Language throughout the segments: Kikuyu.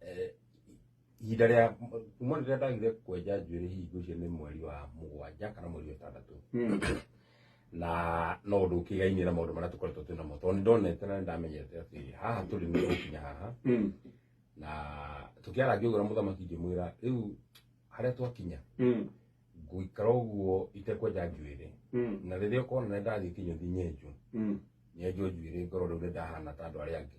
Eh, ihinda rĩa kuma rĩrĩa ndagire kwenja njuĩrĩ hingo icio nĩ mweri wa mũgwanja kana mweri wa ĩtandatũ na no ũndũ ũkĩgainie na maũndũ marĩa tũkoretwo twĩ namo tondũ nĩ ndonete na nĩ ndamenyete atĩ haha tũrĩ nĩ gũkinya haha na tũkĩara ngĩgũra mũthamaki ngĩmwĩra rĩu harĩa twakinya ngũikara ũguo itekwenja njuĩrĩ na rĩrĩa ũkona nĩ ndathiĩ kinyũthi nyenjwo nyenjwo njuĩrĩ ngoro rĩu nĩ ndahana ta andũ arĩa angĩ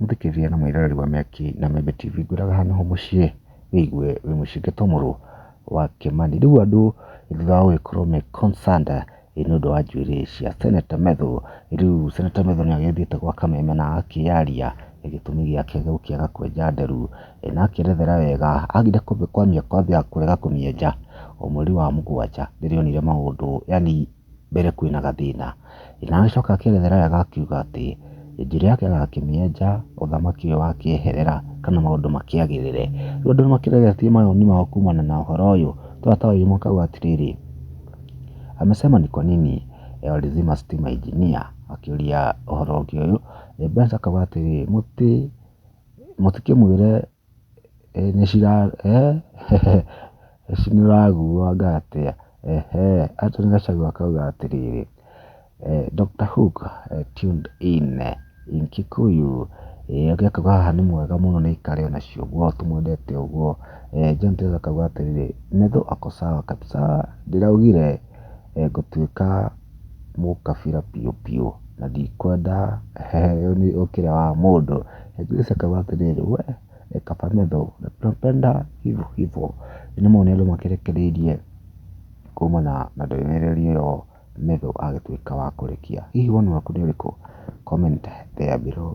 Mũthikĩrĩria na mwĩroreri wa Mĩaki na Membe TV, ngwĩraga haha nĩho mũciĩ, wĩigue wĩ mũciĩ Gĩtomũrũ wa Kĩmani. Rĩu andũ thutha wa gũgĩkorwo me concerned nĩ ũndũ wa njuĩrĩ cia Senator Methũ, rĩu Senator Methũ nĩ agĩthiĩte gwa Kameme na agakĩyaria gĩtũmi gĩake gĩa gũkĩaga kwenja nderu, na akerethera wega. Agire kwambia kwambia kũrega kũmĩenja o mweri wa mũgwanja rĩrĩa onire maũndũ yaani... mbere kwĩna gathĩna. Na agĩcoka akĩerethera wega akiuga atĩ, njĩra yake agakĩmĩenja, ũthamaki ũyũ wakĩeherera, kana maũndũ makĩagĩrĩre. Rĩu andũ nĩ makĩregetie mawoni mao kumana na ũhoro ũyũ, to ataũri makauga atĩrĩrĩ, amesema ni kwa nini walizima stima engineer akĩũria ũhoro ũngĩ ũyũ, Benz akauga atĩrĩ, mũtikĩmwĩre nĩũraguanga atĩa? Eeh. Anthony Gachagua akauga atĩrĩrĩ, Doctor Hook tuned in in Kikuyu, ũngĩ akauga haha nĩ mwega mũno nĩaikare ona cio ũguo tũmwendete ũguo. John Chege akauga atĩrĩrĩ, Medho ako sawa kabisa, ndĩraugire ngũtuĩka... mũkabira biũ biũ, na ndikwenda heo nĩ ũkĩra wa mũndũ, nĩguo ĩcokagwo atĩrĩrĩ, we ni kaba medho, tunapenda hivo hivo, nĩ ũrĩa andũ makĩrekereirie kumana na ndũmĩrĩri ĩyo Melo agĩtuĩka wa kũrĩkia. Hihi woni waku nĩ ũrĩkũ? Comment there below.